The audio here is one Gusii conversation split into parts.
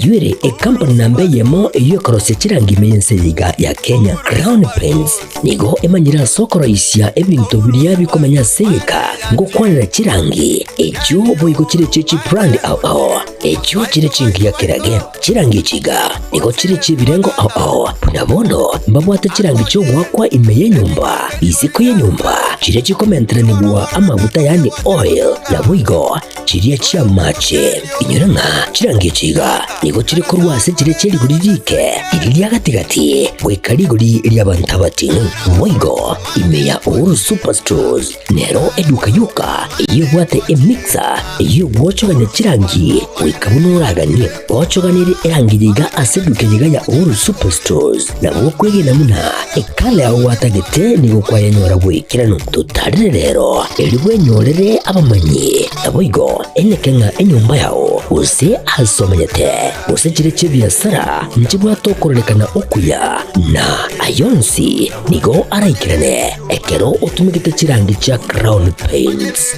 Nduire ekampuni namba eyemo eyio ekorosia chirangi ime y'ense eye iga ya Kenya, Crown Paints, nigo emanyire ase okoroisia ebinto biria bikomanya ase egeka ngokwanera chirangi echio boigo chire echie chibrand ao ao echio chire chingiya kerage. Chirangi echi iga nigo chire chi'ebirengo ao ao buna bono mbabwate chirangi chi'ogoakwa ime y'enyomba, isiko y'enyomba chiria chikomenteranigwa amaguta yaani oil, naboigo Chiria chi'amaache, inyora ng'a chirango echi iga nigo chire korwa ase chiria chia rigori riike iri ria gati-gati goika rigori ri'abanto abatino. Boigo, ime ya Uhuru Superstores nero eduka yoka eyio ebwate emixer eyio ogwochogania chirangi goika buna oraganie. Gochoganirie erangi yiga ase eduke yiga ya Uhuru Superstores na gokwegena buna ekala yao gwatagete nigo kwayenyora bw'ekerano. Totarire rero erio bwenyorere abamanyi, naboigo eneke ng'a enyomba yao, gose aase omanyete, gose chire chi'ebiasara nchibwate okorarekana okuya, na ayio onsi nigo araikerane ekero otumegete chirangi chia Crown Paints.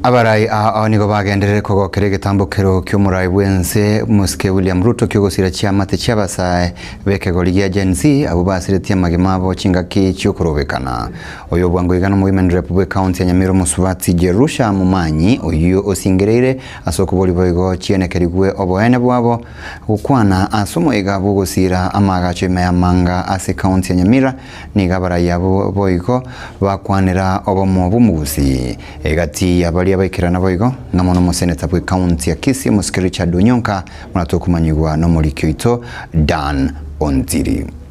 Abarai ao nigo bagenderere kogokera egetambokero ki'omorai bw'ense mosike William Ruto ki'ogosira chiamate chi'abasae b'ekegori gia Gen-Z abwo basiretie amagima abo chingaki chi'okorobekana. Oyobwango iga nomoimen rep bw'ecounty ya Nyamira omosubati Jerusha Mumanyi, oyio osingereire ase okobori boigo chiene kerigwe oboene bwabo, gokwana ase omoiga bw'ogosiira amaagacho ime y'amanga ase county ya Nyamira nigo abarai abo boigo bakwanera obomo bw'omogusii egati ya baria baikerana boigo ng'a mono omoseneta bwe county ya Kisii omosike Richard Onyonka muna tokomanyigwa nomoriki oito Dan Ontiri.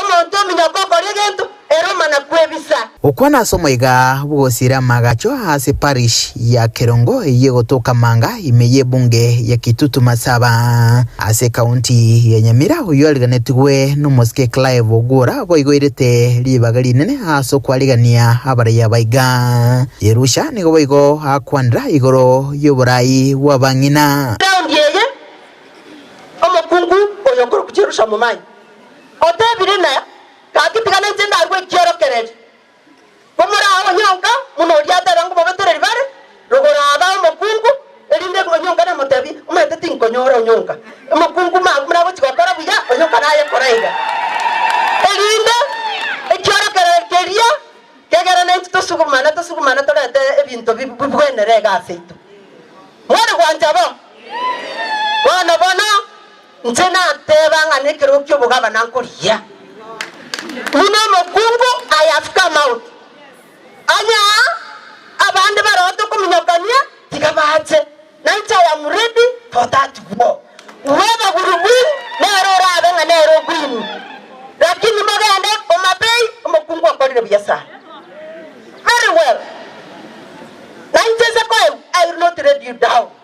Omonto ominyoka okore egento, ere omana-kwebisa. Gokwana ase omoika bw'ogosiera amagacho ase parish ya Kerongo eyio egotoka manga ime y'ebunge ya Kitutu Masaba ase ekaunti ya Nyamira oyio ariganetigwe n'omosike Clive Ogwora boigoirete ribaga rinene ase okwarigania abaraiya baiga. Yerusha nigo boigo akwanera igoro y'oborai bw'abang'ina. Raundi eye, omokungu oyo okorokwa Jerusha Momai. Otebire ime, Gaki tiga ninche ndarue ekiorokererio. Komoraa onyonka buna oria ateba ngomobetereri bare rogoro aba omokungu, erinde onyonka namotebi, omanyete tinkonyora onyonka, omokungu mambwe buna agochi gokora buya, onyonka naye koraiga. Erinde ekiorokererio keria kegere naintwe tosugumane tosugumane torete ebinto bi bigwenere egasi yaito. Mori gwancha bo? Bono bono. Inche nateeba ng'a nekerogo ki'obogabana nkorigia, buna omokungu ayafuka amaoto. Onye aa abande baroote okominyokania, tiga baache, na inche I am ready for that war. Whoever will win nere orabe ng'a nere ogwini. Lakini mogende Homabay omokungu okorire buya sana. Very well. Na inche nse koegwa, I will not let you down.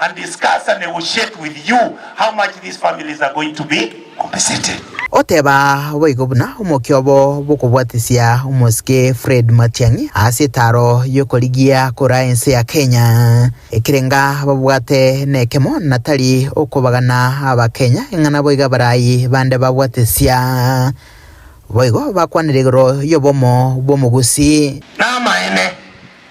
and discuss and negotiate with you how much these families are going to be compensated. Oteba boigo buna omokia obo bokobwatisia omosike Fred Matiang'i ase etaro y'okorigia kura ense ya Kenya, ekerenga babwate nekemo na tari okobagana abakenya eng'ana boiga barayi bande babwatesia. Boigo bakwanire igoro y'obomo bw'omogusii. Namaene,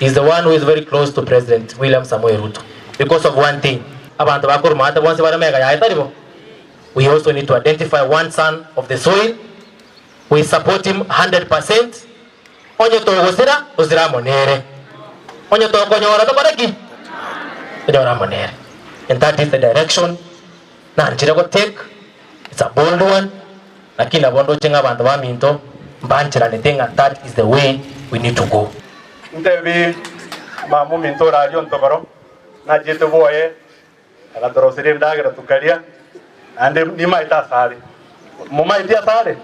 He's the one who is very close to President William Samoei Ruto because of one thing, abanto ba Korumate bonsi bare mega yaye tari bo? We also need to identify one son of the soil, we support him 100 percent, onye togosira tosire amo nere, onye tokonyora tokore ki? Tonyore amo nere. And that is the direction Nanchire gotake, it's a bold one, lakini nabo ndoche ng'a abanto baminto mbancheranete ng'a that is the way we need to go. Ntebie, Mama ominto ore aria ontogoro, nachiete bwoye, agatoroseria endagera tokaria, naende nimaete asare. Momaeti asare?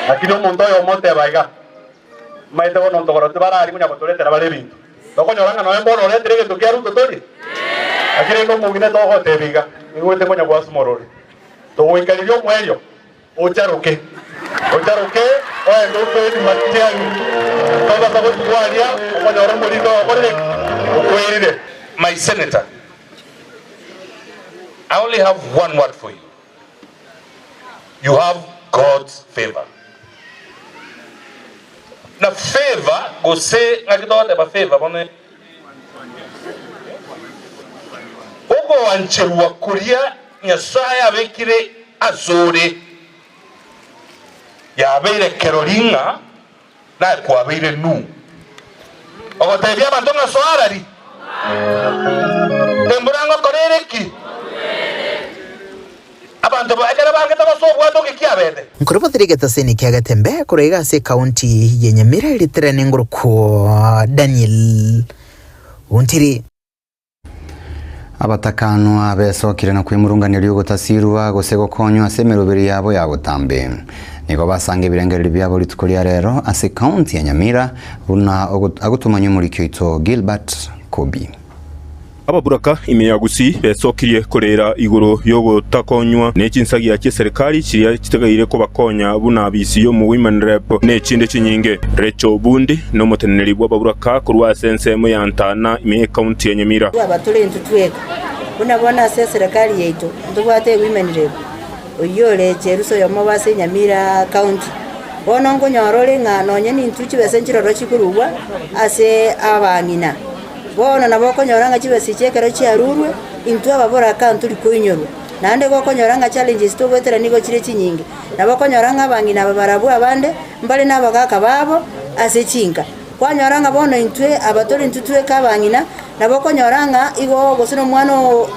Lakini omonto oyomo oteba iga. Mbaete bono ntogoro tibarari munya gotoretera bare ebinto. Tokonyora ng'a noe mbono oretere egento kia Ruto torie? Naki rende omong'ina togotebi iga, nigo goite konya gwasuma orore. Togoikariria omoerio, ocharoke. Ocharoke oende okoeri matiang'i. Togasa gotuga aria okonyora omoriri oo okorire ki? Okwerire. My senator, I only have one word for you. You have God's favour. Na favour gose ngaki togoteba favour bono ere ogoancherwa koria Nyasae abekire asore. Yabeire kerori ng'a. Naye kwabeire Nuhu ogoteebia abanto ng'a Soarari, embura ngokora ere ki? Abanto bo ekero bangete gose obwate oke kiabete? Nkoro batire egetaseni kia Gatembe korwa iga ase ekaonti ya Nyamira ritere nengoro kwo Daniel Ontiri. Abatakanwa besokire na kwemurungania ri'ogotasirwa gose gokonywa ase emeroberi yabo ya botambe. Nigo basanga ebirengererio biabo rituko ria rero ase County ya Nyamira, buna agotumanywa omoriki oito Gilbert Kobi. Ababuraka ime ya Gusii besokirie koreera igoro y'ogotakonywa ne chinsagia chi'eserikari chiria chitegeire kobakonya buna abisi omu Women Rep ne chinde chinyinge. Rachel Bundi, nomoteneneri bw'ababuraka korwa ase ensemo ya. Ntana ime ekaunti ya Nyamira. Twaba tore intwe tweka, buna bono ase eserekari yaito ntobwate Women Rep oyio ore Cherusa oyomo obo ase Nyamira County. Bono nkonyora ore ng'a nonye nintwe chibesa nchiroro chikorugwa ase abang'ina. Bono nabo okonyora ng'a chibesa echi ekero chiarurwe, intwe ababora kaa ntori koinyorwa. Naende igo okonyora ng'a challenges togoetera nigo chire chinyinge. Nabo okonyora ng'a abang'ina aba barabwo abande, mbare na abagaka babo ase chinka. Kwanyora ng'a bono intwe aba tori intwe tweka abang'ina, nabo okonyora ng'a igo gose nomwana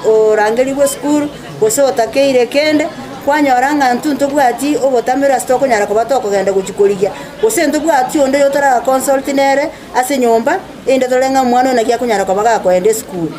orangerigwe esukuru, gose otakeire kende, kwanyora ng'a intwe ntobwati obotamero ase tokonyara koba tokogenda gochia korigia, gose ntobwati onde oyotoraga consult nere ase nyomba, erinde tore ng'a omwana oyo naki akonyara koba gakoenda esukuru.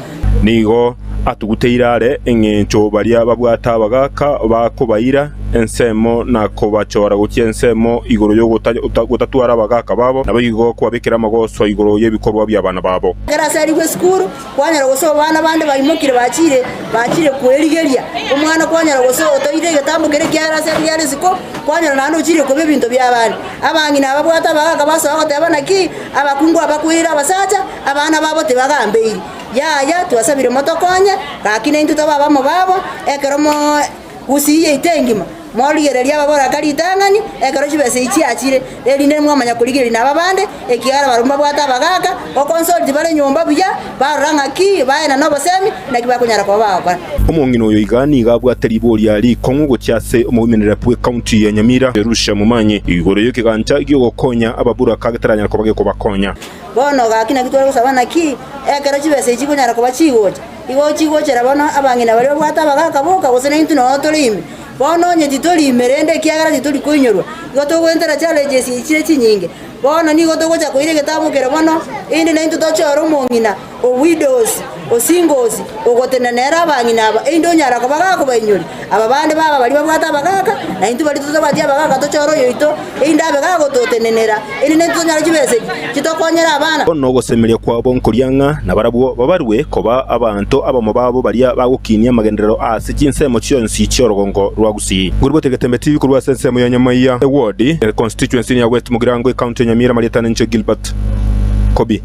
Nigo atuguteire are engencho baria babwate abagaaka bakobaira ensemo na kobachora gochia ensemo igoro y'ogotatwara abagaaka babo, naboigo kobabekera amagoso igoro y'ebikorwa bi'abana babo. Ekero aserigwe esukuru, kwanyora gose obana bande baimokire bachire bachire kwerigeria. Omwana kwanyora gose otoeire egetambo keria kiare ase erio giare isiko, kwanyora naende ochire koba ebinto bi'abande. Abang'ina ababwate abagaaka basoa goteba naki abakungu aba kweire abasacha, Abana babo tibagambeirie, Yaya, twasabire motokonye, gaki naintwe tobe abamo babo, ekero mogusiyia ita engima, morigererie ababoraka ritang'ani ekero chibesa echi chiachire, erinde nimwamanya korigereria naba bande, ekiagera barabwo mbabwate abagaaka, okonsoriti bare nyomba buya, barora ng'aki baye na nobosemi, naki bakonyara koba bagokora. Omong'ina oyo iga nigo abwate riboria rikong'u gochia ase omoimerere bw'ecounty ya Nyamira, Jerusha Mumanyi, igoro y'ekegancha gi'ogokonya ababoraka getaranyare koba gekobakonya. Bono gaki naki tore gosaba naki, ekero chibesa echi chikonyara koba chigocha, igo chigochera bono abang'ina baria babwate abagaaka boka, gose naintwe nonya tore ime. Bono onye titori ime rende ekiagera titori koinyorwa, igo togwentera challenges echi chire chinyinge. Bono nigo togocha koira egetabu kere bono, erinde naintwe toche ore omong'ina o widows. Osingosi, ogotenena nere abang'ina aba, erinde onyare kobagaaka obainyore. Aba bande baba baria babwate abagaaka, na intwe baria totabwati abagaaka tochore oyoito, erinde abe gagototenenera, erinde naintwe tonyore chibesa echi chitokonyere abana. Bono nogosemeria kwabo nkoria ng'a nabarabwo babarue koba abanto abamo babo baria bagokinia amagenderero aase chinsemo chionsi chi'orogongo rwa Gusii. Ngoriboti egetembe TV korwa ase ensemo ya Nyamaiya ewodi e constituency ya West Mugirango ecounty ya Nyamira marieta ninche Gilbert Kobi.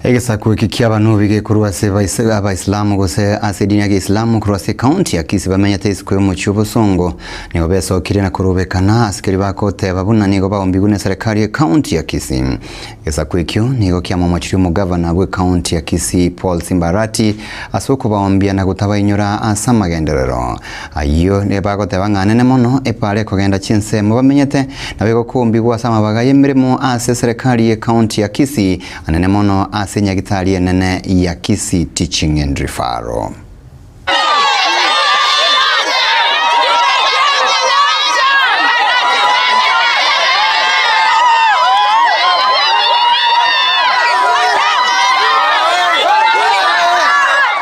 Egesaku eke ki'Abanubi gekorwa ase Abaisilamu gose ase edini ya Geisilamu korwa ase ekaunti ya Kisii bamenyete isiko y'omochie obosongo. Nigo besokirie na korubekana ase keria bagoteba buna nigo baombigwe ne serekari y'ekaunti ya Kisii. Egesaku ekio nigo kiamomochirie omogavana bw'ekaunti ya Kisii Paul Simba Arati ase okobaombia na gotabainyora ase amagenderero Ayio nigo bagoteba ng'a nene mono epaara ekogenda chinsemo bamenyete, nabo egokumbigwa ase amabaga y'emeremo ase eserekari ye county ya Kisii, anene mono ase enyagitari enene ya Kisii Teaching and Referral.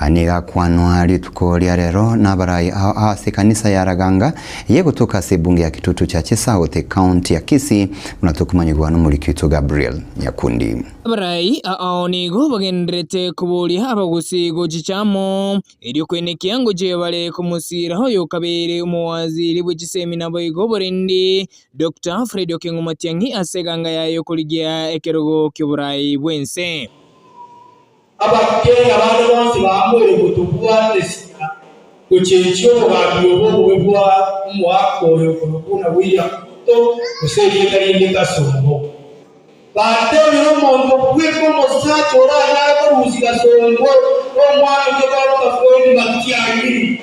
Aya nigo akwanwa rituko ria rero n'abarai ao aase ekanisa ya Raganga eye egotoka ase ebunge ya Kitutu Church South, Ekaunti ya Kisii, buna tokomanyigwa n'omoriki oito Gabriel Nyakundi. Abarai ao nigo bagendererete koboria abagusii gochicha amo, erio koenekia ngochia bare komosira oyo o kabere omowaziri bwe chisemi naboigo oborendi, Doctor Fred Okengo Matiang'i ase eganga yaye y'okorigia ekerogo ki'oborai bw'ense. Abakungu abande bonsi baamboire ng'a tobwate esika gochenchia obogambi obo bobe bwa omoaka oyo korwa buna bw'eria kunto gose erieta rinde kasongo. Bateebire omonto bweka omosacha oranyare korusia kasongo omwake toba bokafendi, matiari.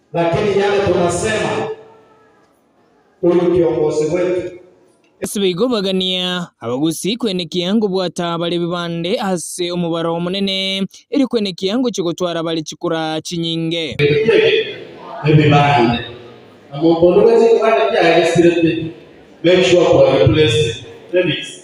Lakini yale tunasema, Huyu kiongozi wetu. Ase baigobagania abagusii kwenekia ngobwata bare bibande ase omobaro omonene, erio kwenekia ngochia gotwara bare chikura chinyinge. Ebibande Omonto onde bwe chikura nekiagesire te, make sure to replace it. Remix.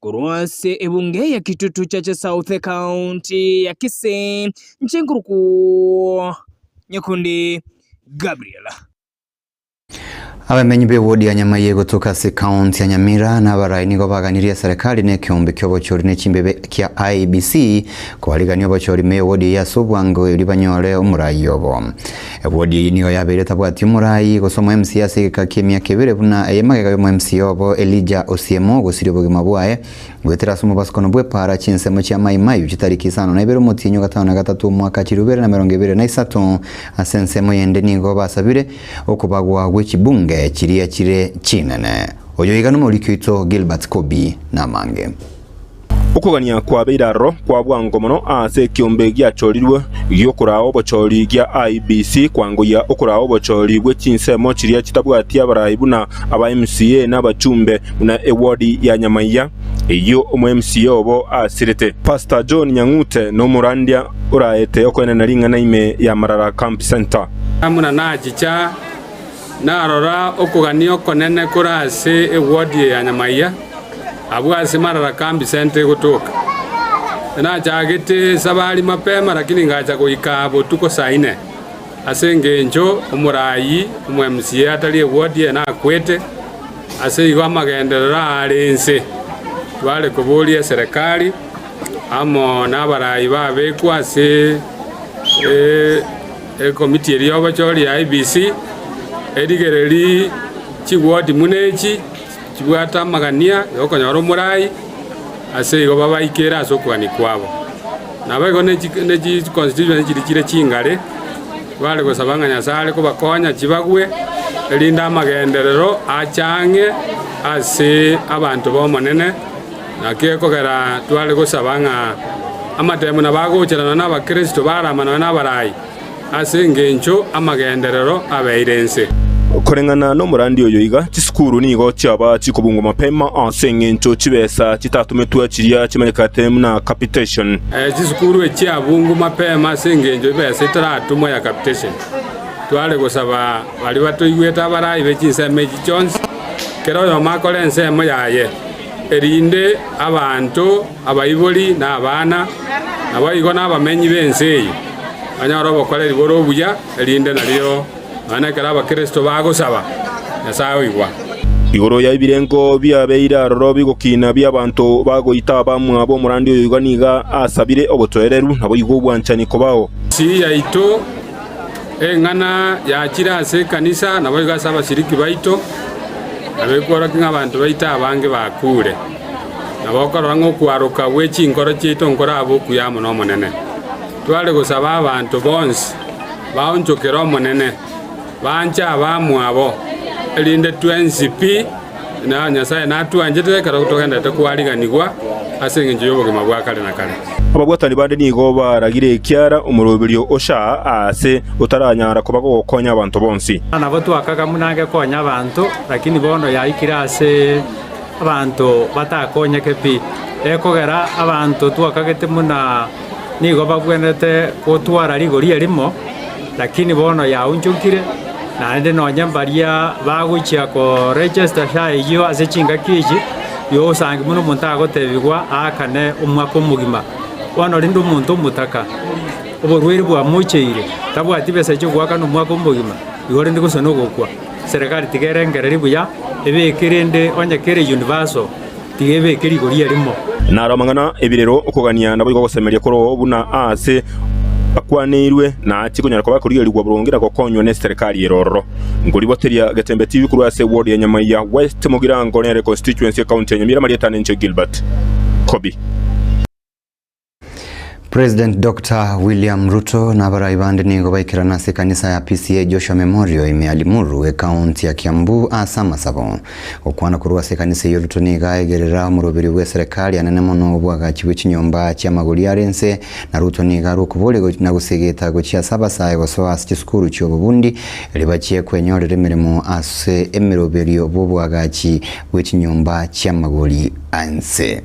Korwa ase ebunge ya Kitutu Church South ekaunti ya Kisii, inche nkorokwo Nyakundi Gabriel. Abamenyi b'ewodi ya Nyamayiye gotuka ase ekaunti ya Nyamira nabarai nigo baganirie eserekari na ekeombe ki'obochori ne chimbebe kia IEBC kobarigania obochori me ewodi eye ase obwango erio banyore omorai obo. Ewodi eye nigo yabeire tabwati omorai, gose omoemsi ase egeka ki'emiaka ebere buna ey'amagega y'omoemsi obo Elija Osiemo, ogosiria obogima bwaye goetera ase omobasukano bw'epaara, chinsemo chia mai maiu chitariki isano na ibere omotienyi ogatano na gatato omwaka chilifu ibere na emerongo ebere na isato. Ase ensemo yende nigo basabire okobagwa gwe chibunge chiria chire chinene. Oyo iga nomoriki oito Gilbert Kobi namange. Okogania kwabeire aroro kwa bwango mono aase ekiombe giachorirwe gi'okoraa obochori gia IEBC kwangoyia okoraa obochori bwe chinsemo chiria chitabwati abarai buna aba MCA na abachumbe buna ewodi ya Nyamaiya eyio omo MCA obo asirete. Pastor John Nyang'ute nomorandia oraete okoenena ring'ana ime ya Marara Camp Centre. Buna nachicha. Narora okogania okonene kore ase ewodi eye ya nyamaiga, abwo ase marara kambi sente egotoka. Nachagete esabari mapema lakini ngacha goika botuko saa ine, ase engencho omoraai omwemusie atari ewodi eye nakwete, ase igo amagenderero aare inse. Tware koboria eserekari amo nabaraai babekwa ase. Ekomiti eria y'obochori ya IEBC erigererie chigoti buna echi chibwate amagania y'okonyora omorai, ase igo babaikere ase okuani kwabo. Naboigo ne chi constituency chiria chire chingare bare gosaba ng'a Nyasae are kobakonya chibagwe, erinde amagenderero achang'e ase abanto b'Omonene. Naki ekogera tware gosaba ng'a amatemo nabo agocherana n'Abakristo baraamanawe n'abarai, ase engencho amagenderero abeire ense. Koreng'ana nomorandia oyo iga, chisukuru nigo chiaba chikobungwa mapema ase engencho chibesa chitatumetwe chiria chimanyekanete buna capitation. Chisukuru echiabungwa mapema ase engencho ebesa etaratumwa ya capitation, tware gosaba baria batoigwete abarai be chinsemo echi chionsi, kera oyomo akore ensemo yaye. erinde abanto abaibori na abana, naboigo nabamenyi b'ense eye, banyore obokoreri bore obuya, erinde nario nonya ekero Abakristo bagosaba, Nyasae oigwa. Igoro ya ebirengo biabeire aroro bigokina bi'abanto bagoita abamwabo omorandi oyoigo nigo asabire obotoereru, naboigo obwanchani kobao. Ensi yaito. Eng'ana yachire ase ekanisa naboigo ase abasiriki baito, abekworokia ng'a abanto baito abange bakuure. Nabo okorora ng'a okwaroka gwe chinkoro chiaito nkorabe okuya amo n'Omonene, tware gosaba abanto bonsi baonchokere Omonene, banche abamwabo, erinde twensi pi, na Nyasae natwanchete ekero togenderete kwariganigwa ase engencho y'obogima bwa kare na kare. Ababwatani bande nigo baragire ekiara omoroberio ocha aase, otaranyara koba gokonya abanto bonsi. Nabo twakaga buna agekonya abanto, lakini bono yaikire ase abanto batakonyeke pi, ekogera abanto twakagete buna nigo bagwenerete gotwara rigori erimo. Lakini bono yaonchonkire, naende nonya mbaria bagochia koregesta sha eyio ase chingaki echi, yosangi buna omonto agotebigwa aakane omwaka omogima. Bono rende omonto omotaka, oborwaire bwamocheire, tabwati besa echia goakana omwaka omogima, igo rende gose nogokwa. Serikali tiga erengererie buya, ebeke rende onye kere universal. Tiga ebeke rigoria rimo. Naro amang'ana 'ebirero, okogania, naboigo ogosemeria koroo buna aase akwaneirwe, naachie konyara koba akorigerigwa boronge na gokonywa neserikari ere ororo. Nkoriboteria Getembe TV korwa ase eward ya Nyamaiya West, Mogirango nere constituency, ekaunti ya Nyamira, amarieta neinche Gilbert Kobi. President Dr. William Ruto na abarai bande nigo baikerana ase ekanisa ya PCEA Joshua Memorial ime ya Limuru, ekaunti ya Kiambu ase amasabo. Gokwana korwa ase ekanisa eyio Ruto nigo aegerera omoroberio bw'eserekari anene mono obwagachi bwe chinyomba chi'amagori are inse, na Ruto nigo arwe okoboria na gosegeta gochia ase abasae gosoa ase chisukuru chi'obobundi eri bachie kwenyorera emeremo ase emeroberio bw'obwagachi bwe chinyomba chi'amagori a inse.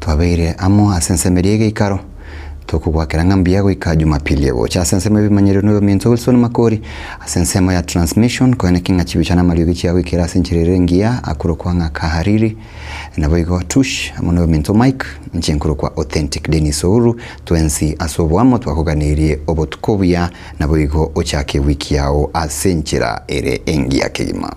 Twabeire amo ase ensemo eria y'egeikaro, tokogoakera ng'a mbuya goika Jumapili egocha. Ase ensemo y'ebimanyererio na oyominto Wilson Makori, ase ensemo ya Transmission, koeneki ng'a chibicha na amariogi chiagoikera ase enchera ere engiya akorokwa ng'a Kahariri, naboigo Tush amo na oyominto Mike, inche nkorokwa Authentic Dennis Ouru, twensi ase oboamo twakoganirie obotuko obuya naboigo ochake ewiki yao ase enchera ere engiya kegima.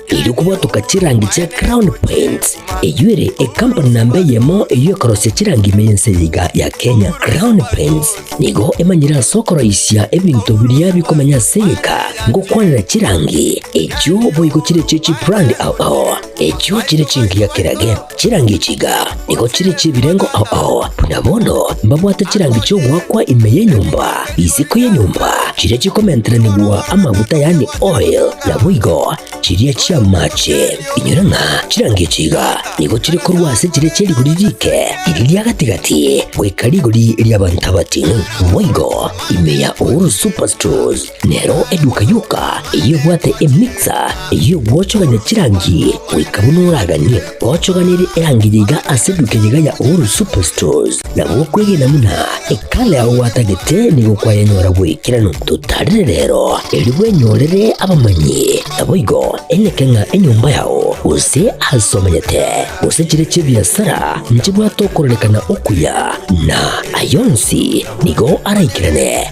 Erio kobwatoka chirangi chia Crown Paints, eyio ere ekampuni namba eyemo eyio ekorosia chirangi ime y'ense eye iga ya Kenya. Crown Paints nigo emanyire ase okoroisia ebinto biria bikomenya ase egeka ngokwanera chirangi, echio boigo chire chie chibrand ao ao, echio chire chingiya kerage. Chirangi chiga nigo chire chi'ebirengo ao ao, buna bono mbabwate chirangi chi'ogoakwa ime y'enyomba, isiko y'enyomba, chiria chikomenteranigwa amaguta yaani oil, naboigo chiria chi'amache. Inyora ng'a chirangi chiga nigo chire korwa ase chiria chia rigori rike iri ria gati-gati goika rigori ri'abanto abatino, boigo ime ya Uhuru Superstores. Nero eduka yoka eyebwate emixer eyio gwochogania chirangi goika buna oraganie gochoganire erangi yaiga ase eduka eyega ya Uhuru Superstores. Na gokwegena buna ekala yao gwatagete nigo kwayanyora bw'ekerano totarire rero, erio bwenyorere abamanyi, naboigo eng'ake ng'a enyomba yao, gose aase omanyete, gose chire chi'ebiasara nchibwate okorarekana okuya, na ayio onsi nigo araikerane.